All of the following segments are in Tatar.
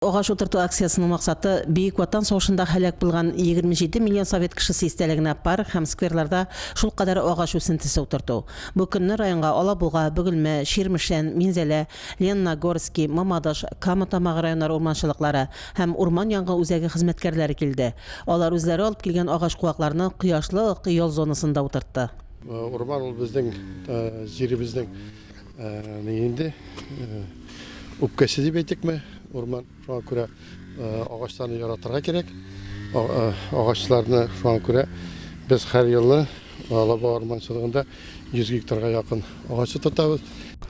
Агач утырту акциясенең максаты, Бөек Ватан сугышында һәлак булган 27 миллион совет кешесе истәлегенә парк һәм скверларда шулкадәр агач үсентесе утырту. Бу көнне районга Алабуга, Бөгелмә, Чирмешән, Минзәлә, Ленногорски, Мамадыш, Кама Тамагы районнары урманчылыклары һәм урман янгын үзәге хезмәткәрләре килде. Алар үзләре алып килгән агач-куакларны кояшлы ак ял зонасында утыртты. Урман ул безнең җиребезнең Инде үпкәсе дип әйтекме, урман шуңа күрә агачларны яратырга кирәк. Агачларны шуңа күрә без һәр елны Алаба урманчылыгында 100 гектарга якын агач утыртабыз.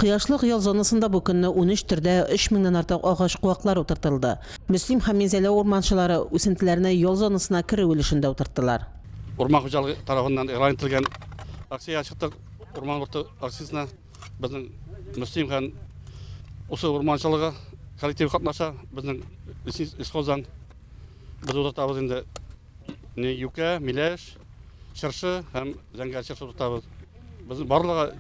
Кояшлык ял зонасында бу көнне унөч төрдә өч меңнән артык агач куаклары утыртылды. Мөслим һәм Минзәлә урманчылары үсентеләрне ял зонасына керү өлешендә утырттылар. Урман хуҗалыгы тарафыннан игълан ителгән акциягә чыктык. Урман корты акциясенә безнең Мөслим һәм Усы урманчылыгы коллективы катнаша. Безнең лесхоздан без утыртабыз инде не юкә, миләш, чыршы һәм зәңгәр чыршы утыртабыз. Безнең барлыгы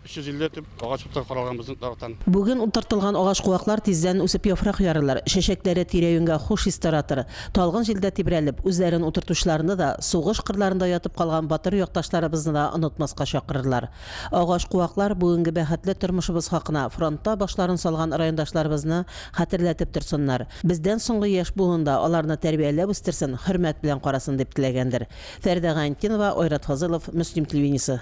350 төп агач утыртып каралган безнең тарафтан. Бүген утыртылган агач куаклар тиздән үсеп яфрак ярырлар, чәчәкләре тирә-юньгә хуш ис таратыр. Талгын җилдә тибрәлеп, үзләрен утыртучыларны да, сугыш кырларында ятып калган батыр якташларыбызны да онытмаска чакырырлар. Агач-куаклар бүгенге бәхетле тормышыбыз хакына фронтта башларын салган райондашларыбызны хәтерләтеп торсыннар, бездән соңгы яшь буын да аларны тәрбияләп үстерсен, хөрмәт белән карасын, дип теләгәндер. Фәридә Гаентдинова, Айрат Фазылов, Мөслим телевидениесе.